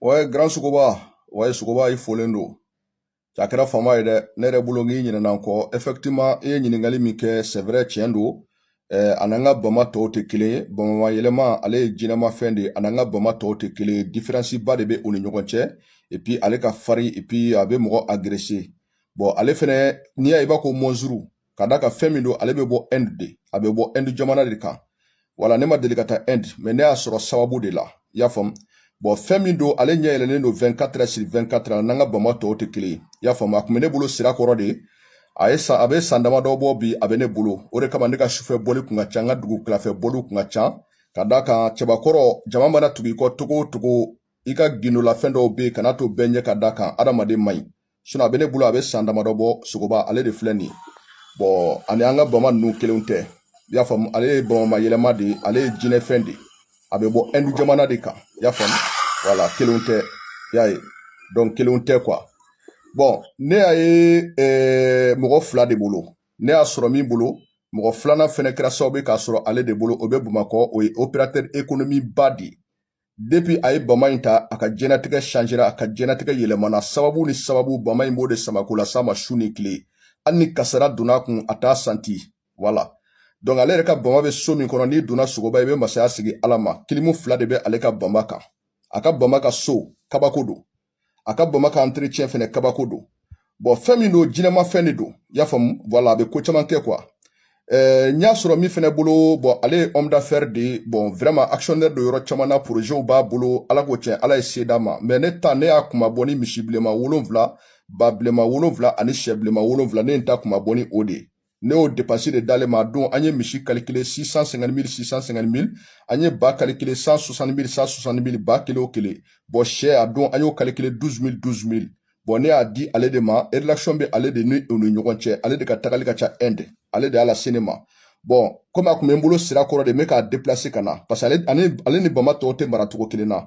Ouais, grand Sogoba. Ouais, Sogoba, i folen don. Cɛ a kɛra fama ye dɛ ne yɛrɛ bolo k'i ɲinɛna n kɔ effectivement i ye ɲininkali min kɛ c'est vrai tiɲɛ don eh, a n'an ka bama tɔw tɛ kelen ye bama mayɛlɛma ale ye jinɛmafɛn de ye a n'an ka bama tɔw tɛ kelen ye différence ba de bɛ u ni ɲɔgɔn cɛ et puis ale ka farin et puis a bɛ mɔgɔ agresser bon ale fɛnɛ n'i y'a ye i b'a ko mɔnzuru ka d'a kan fɛn min don ale bɛ bɔ Inde de a bɛ bɔ Inde jamana de kan voilà ne ma deli ka taa Inde mais ne y'a sɔrɔ sababu de la i y'a faamu bon fɛn min don ale ɲɛ yɛlɛlen don 24 sur 24 a n'an ka bama tɔw tɛ kelen i y'a faamu a tun bɛ ne bolo sira kɔrɔ de a ye san a bɛ san damadɔ bɔ bi a bɛ ne bolo o de kama ne ka sufɛ bɔli kun ka ca n ka dugu kilafɛ bɔliw kun ka ca ka d'a kan cɛbakɔrɔ jama mana tugu i kɔ cogo o cogo i ka gindolafɛn dɔw bɛ yen kana to bɛɛ ɲɛ ka d'a kan adamaden man ɲi sinon a be ne bolo a be san damadɔ bɔ sogoba ale de filɛ nin ye bon a ni an ka bama nunu kelenw tɛ i y'a faamu ale ye bama mayɛlɛma de ye ale ye jinɛfɛn de ye a be bɔ ɛndu jamana de kan i y'a faamu voilà kelenw tɛ i y'a ye donc kelenw tɛ quoi bon ne y'a ye eh, mɔgɔ fila de bolo ne y'a sɔrɔ min bolo mɔgɔ filanan fɛnɛ kɛra sababu ye k'a sɔrɔ ale de bolo o be bamakɔ o ye opérateur économique ba de ye depuis a ye bama in ta a ka jɛnatigɛ changera a ka jɛnatigɛ yɛlɛmana sababu ni sababu bama in b'o de sama k'o lase a ma su ni tile hali ni kasara donna a kun a t'a sentir voilà donc ale yɛrɛ ka bama bɛ so min kɔnɔ n'i donna sogoba i bɛ masaya sigi ala ma kilimu fila de bɛ ale ka bama kan a ka bama ka so kabako don a ka bama ka entretien fɛnɛ kabako don bon fɛn min don jinɛma fɛn de don i y'a faamu voilà a bɛ ko caman kɛ quoi eh, n y'a sɔrɔ min fɛnɛ bolo bon ale ye homme d'affaires de ye bon vraiment actionnaire don yɔrɔ caman na projetw b'a bolo ala ko tiɲɛ ala ye se d'a ma mais ne ta ne y'a kunmabɔ ni misi bilenman wolonfila ba bilenman wolonfila ani sɛ bilenman wolonfila ne ye n ta kunmabɔ ni o de ye ne y'o dépense de d'ale ma a don an ye misi calculer 650 mil 650 mil an ye ba calculer 160 mil 160 mil ba kelen o kelen bon sɛ a don an y'o calculer 12 mil 12 mil bon ne y'a di ale de ma relation bɛ ale de ni u ni ɲɔgɔn cɛ ale de ka tagali ka ca inde ale de y'a lase ne ma bon comme a tun bɛ n bolo sira kɔrɔ de n bɛ k'a déplacer ka na parce que ale ni bama tɔw tɛ mara cogo kelen na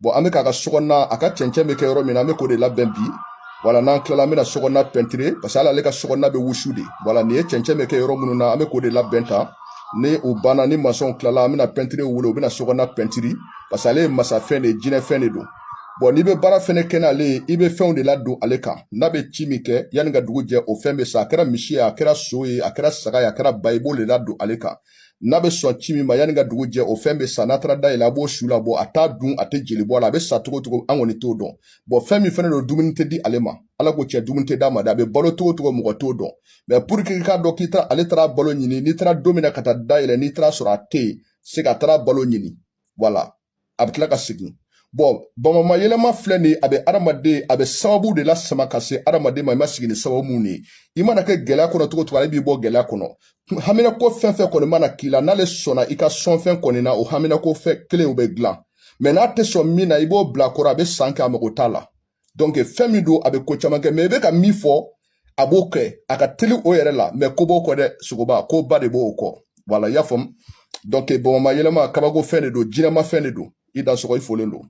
bon an be k'a ka sokɔnɔna a ka cɛncɛn be kɛ yɔrɔ min na an be k'o de labɛn bi voilà n'an tilala an bena sokɔnɔna peinturer parce que hali ale ka sokɔnɔna be wusu de voilà nin ye cɛncɛn be kɛ yɔrɔ minnu na an be k'o de labɛn tan ni o banna ni masɔnw tilala an bena peintre wele u bena sokɔnɔna peinturer parce que ale ye masafɛn de ye jinɛfɛn de don bon n'i be baara fɛnɛ kɛ n'ale ye i be fɛnw de ladon ale kan n'a be ci min kɛ yani ka dugu jɛ o fɛn be sa a kɛra misi ye a kɛra so ye a kɛra saga ye a kɛra ba ye i b'o de ladon ale kan n'a bɛ sɔn ci min ma yanni ka dugu jɛ o fɛn bɛ sa n'a taara da yɛlɛ a b'o su labɔ a t'a dun a tɛ jeli bɔ a la a bɛ sa cogo cogo an kɔni t'o dɔn bon fɛn min fɛnɛ don dumuni tɛ di ale ma ala ko tiɲɛ dumuni tɛ d'a ma dɛ a bɛ balo cogo cogo mɔgɔ t'o dɔn mais pour que i k'a dɔn k'i taara ale taara balo ɲini n'i taara don min na ka taa da yɛlɛ n'i taara sɔrɔ a tɛ yen c'est que a taara balo ɲini voilà a bɛ tila ka segin bon bamama yɛlɛma filɛ nin a bɛ adamaden a bɛ sababu de lasama ka se adamaden ma i ma sigi ni sababu min ye i mana kɛ gɛlɛya kɔnɔ cogo cogo ale b'i bɔ gɛlɛya kɔnɔ haminako fɛn fɛn kɔni mana k'i la n'ale sɔnna i ka sɔnfɛn kɔni na o haminako fɛn kelen o bɛ dilan mais n'a tɛ sɔn min na i b'o bila kɔrɔ a bɛ san kɛ a mago t'a la donc fɛn min don a bɛ ko caman kɛ mais i bɛ ka min fɔ a b'o kɛ a ka teli o yɛrɛ la mais ko b'o kɔ dɛ sogoba ko ba de b'o kɔ voilà i y'a faamu donc bamama yɛlɛma kabako fɛn de don jinɛma fɛn de don i dansɔgɔ i folen don